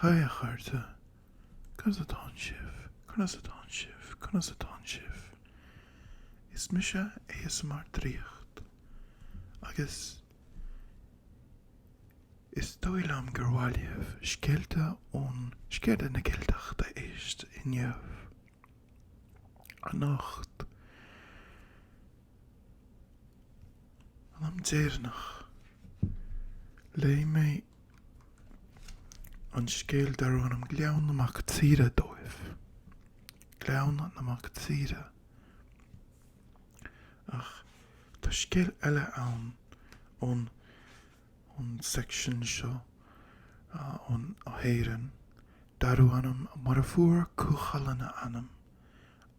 Haigh a chairde, Conas atá sibh? Conas atá sibh? Conas atá sibh? Is mise ASMR Draíocht agus Is dóigh liom gur mhaith libh scéalta ón Scéalta na gCeilteach a éist inniu, anocht, an am deireanach léigh mé an scéal darbh ainm Gleann na Mac Tíre dóibh, Gleann na Mac Tíre, ach Tá scéal eile ann ón section seo ón hÉireann darbh ainm mar a fuair Cú Chulainn a ainm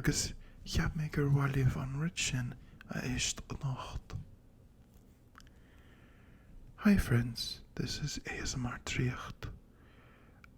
agus cheap mé gur mhaith libh an rud sin a éist anocht. Hi friends, this is ASMR Draíocht.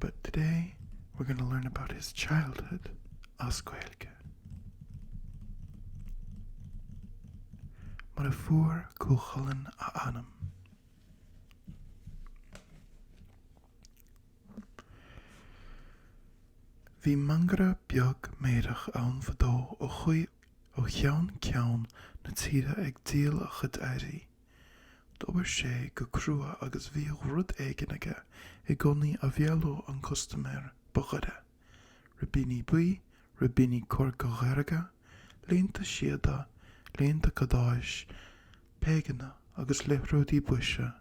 But today we're going to learn about his childhood as Gaeilge. Mar a fuair Cú Chulainn a ainm. Bhí mangaire beag meidhreach ann fadó a chuaigh ó cheann ceann na tíre ag díol a chuid earraí. D'obair sé go crua agus bhíodh rud éigin aige i gcónaí a mheallodh an custaiméir ba ghoire, ribíní buí, ribíní corcairdhearga, léinte síoda, léinte cadáis, péigeanna agus liathróidí boise,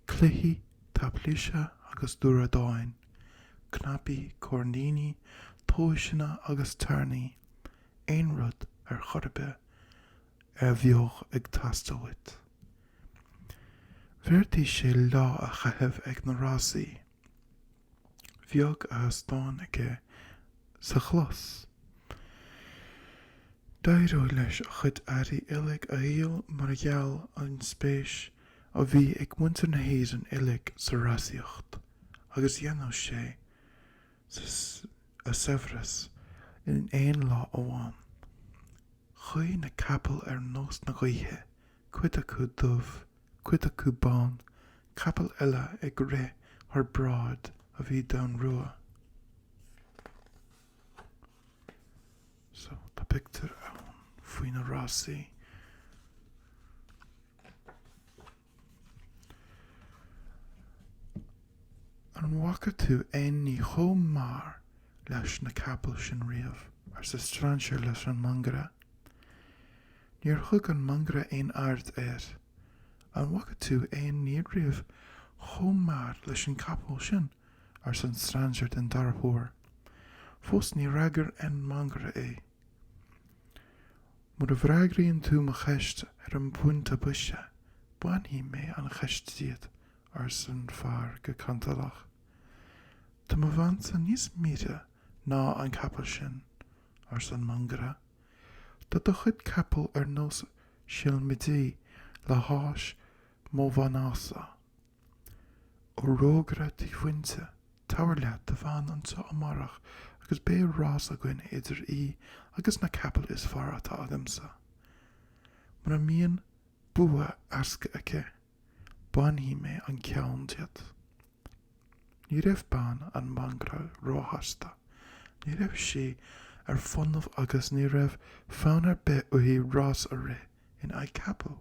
cluichí táiplise agus dúradáin, cnaipí, coirníní, tomhaiseanna agus tairní, aon rud ar chor ar bith a bheadh ag teastáil uait. Bheartaigh sé lá a chaitheamh ag na rásaí. Bheadh a sheastán aige sa chlós. D'éireodh leis a chuid earraí uilig a dhíol mar gheall ar an spéis a bhí ag muintir na hÉireann uilig sa rásaíocht agus dhéanfadh sé a saibhreas in aon lá amháin. Chuaigh na capaill ar nós na gaoithe, cuid acu dubh, cuid acu bán, capaill eile ag rith thar bráid a bhí donnrua. So, tá pictiúr ann faoi na rásaí. An bhfaca tú aon ní chomh mear leis na capaill sin riamh? arsa strainséir leis an mangaire. Níor thug an mangaire aon aird air. An bhfaca tú aon ní riamh chomh mear leis an gcapall sin? arsa an strainséir den dara huair. Fós níor fhreagair an mangaire é. Mura bhfreagraíonn tú mo cheist ar an bpointe boise, bainfidh mé an cheist díot, arsa an fear go cantalach. Tá mo bheansa níos mire ná an capall sin, arsa an mangaire. Tá do chuid capall ar nós seilmidí le hais mo mhnása. Ó rógaire dímhúinte, tabhair leat do bhean anseo amárach agus beidh rás againn idir í agus na capaill is fearr atá agamsa. Mura mbíonn bua éasca aici, bainfidh mé an ceann díot. Ní raibh bean an mhangaire róshásta. Ní raibh sí ar fónamh agus ní raibh fonn ar bith uirthi rás a rith in aghaidh capaill.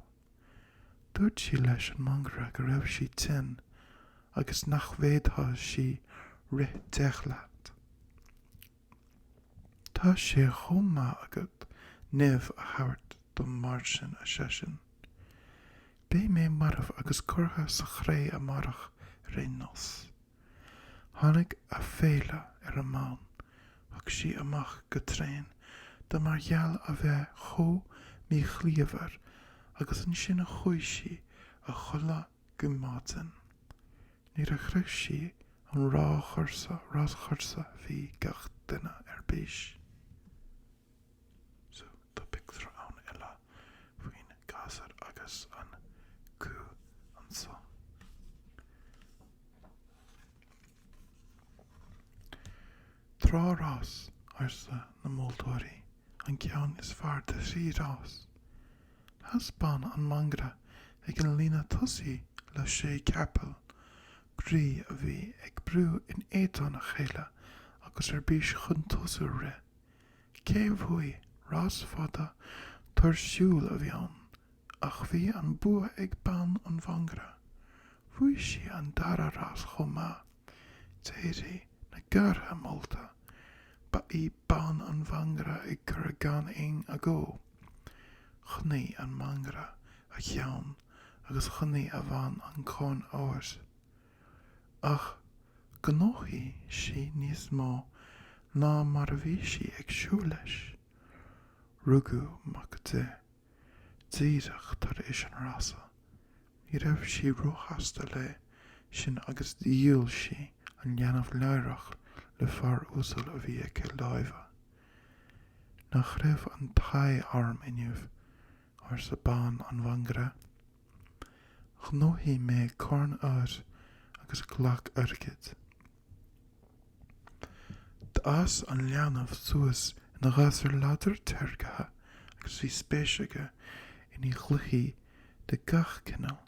Dúirt sí leis an mangaire go raibh sí tinn agus nach bhféadfadh sí rith deich slat. Tá sé chomh maith agat nimh a thabhairt dom mar sin, ar seisean. Beidh mé marbh agus curtha sa chré amárach ar aon nós. Tháinig aiféala ar an mbean, thug sí amach go tréan dó mar gheall a bheith chomh míchiallmhar agus ansin chuaigh sí a chodladh go maidin. Nuair a shroich sí an ráschúrsa bhí gach duine ar bís. so tá pictiúr ann eile faoin ngasúr agus an cú anso. Trí rás, arsa na moltóirí, an ceann is fearr de thrí rás. Sheas bean an mhangaire ag an líne tosaigh le sé capall groí a bhí ag brú in éadan a chéile agus ar bís chun tosú ag rith. Cé bhuaigh? Rás fada, tuirsiúil a bhí ann, ach bhí an bua ag bean an Mhangaire. Bhuaigh sí an dara rás chomh maith, d'éirigh na gártha molta, ba í bean an Mhangaire an curadh gan aon agó. Choinnigh an Mangaire a cheann agus choinnigh a bhean an Corn Óir. ach gnóthaigh sí níos mó ná mar a bhí sí ag súil leis. Rugadh mac di díreach tar éis an rása. Ní raibh sí róshásta leis sin agus dhíol sí an leanbh láithreach le fear uasal a bhí in aice láimhe. Nach raibh an t-ádh orm inniu, arsa bean an mhangaire. Ghnóthaigh mé corn óir agus glac airgid. D'fhás an leanbh suas ina ghasúr láidir téagartha agus bhí spéis aige i gcluichí de gach cineál,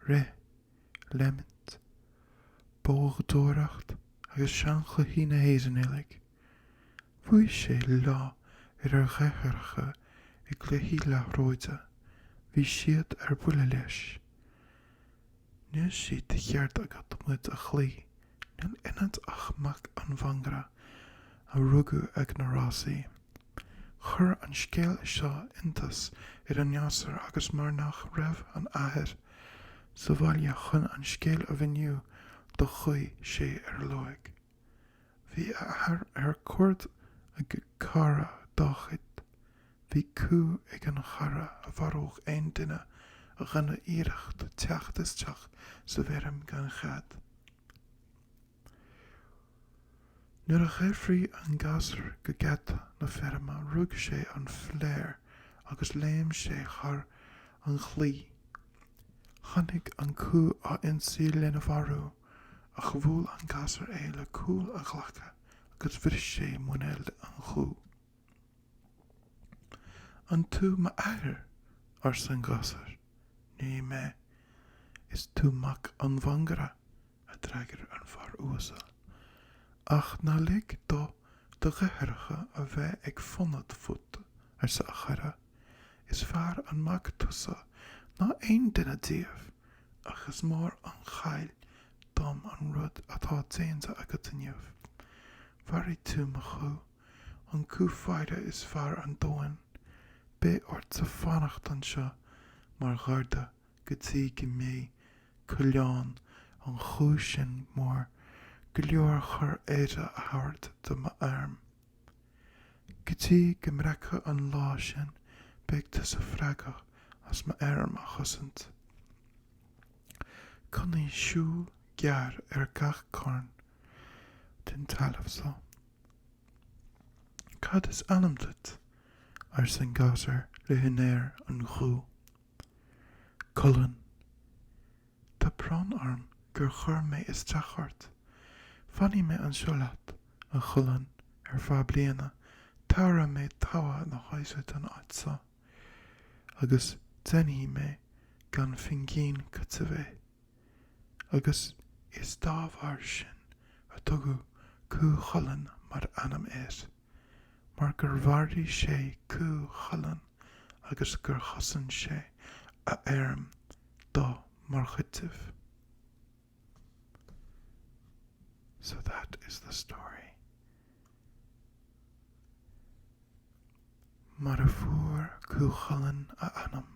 rith, léimint, boghdóireacht agus seanchluichí na hÉireann uilig. Bhuaigh sé lá ar a dheartháireacha i gcluichí liathróide. Bhí siad ar buile leis. Níl sé de cheart agat muid a chloí. Níl ionat ach mac an mhangaire a rugadh ag na rásaí. Chuir an scéal seo iontas ar an ngasúr agus mar nach raibh an t-athair sa bhaile chun an scéal a mhíniú dó chuaigh sé ar a lorg. Bhí a athair ar cuaird ag cara dá chuid. Bhí cú ag an chara a mharódh aon duine a dhéanfadh iarracht teacht isteach sa bhfeirm gan chead. Nuair a dheifrigh an gasúr go geata na feirme rug sé an phléar agus léim sé thar an chlaí. Tháinig an cú á ionsaí lena mharú. Ach bhuail an gasúr é le cúl a ghlaice agus bhris sé muinéal an chú. An tú m'athair? arsa an gasúr. Ní mé. Is tú mac an mhangaire, a d'fhreagair an fear uasal. Ach ná lig do do dheartháireacha a bheith ag fonóid fút, arsa a chara. Is fearr an mac tusa ná aon duine díobh, ach is mór an chaill dom an rud atá déanta agat inniu. Mharaigh tú mo chú, an cú faire is fearr ar domhan. Beidh ortsa fanacht anseo mar gharda go dtí go mbeidh coileán an chú sin mór go leor chun aire a thabhairt do m'fheirm. Go dtí go mbreacfidh an lá sin beidh tusa freagrach as mo fheirm a chosaint. Coinnigh súil ghéar ar gach cearn den talamh so. Cad is ainm duit? arsa an gasúr le húinéir an chú. Culann. Tá brón orm gur chuir mé isteach ort. Fanfaidh mé anseo leat, a Chulainn, ar feadh bliana, tabharfaidh mé togha na haire don áit so, agus déanfaidh mé gan phingin cúitimh é. Agus is dá bharr sin a tugadh Cú Chulainn mar ainm air. mar gur mharaigh sé cú Chulainn agus gur chosain sé a fheirm dó mar chúiteamh. So that is the story. Mar a fuair Cú Chulainn a ainm.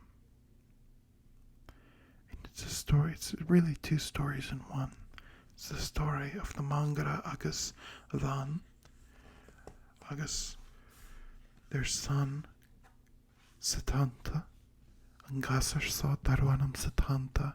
It's a story, it's really two stories in one. It's the story of the Mangaire agus a bhean agus their son Setanta, an gasar seo darú anam Setanta,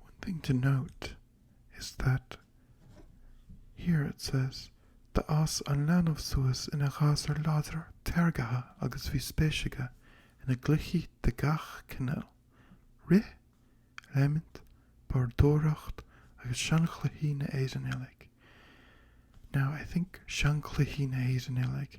One thing to note is that here it says D'fhás an leanbh suas ina ghasúr láidir téagartha agus bhí spéis aige ina gcluichí de gach cineál, rith, léimint, bádóireacht agus seanchluichí na Éireann uilig. Now I think seanchluichí na hÉireann uilig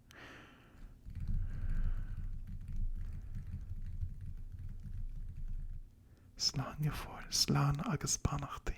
Slán go fóill, slán agus beannachtaí.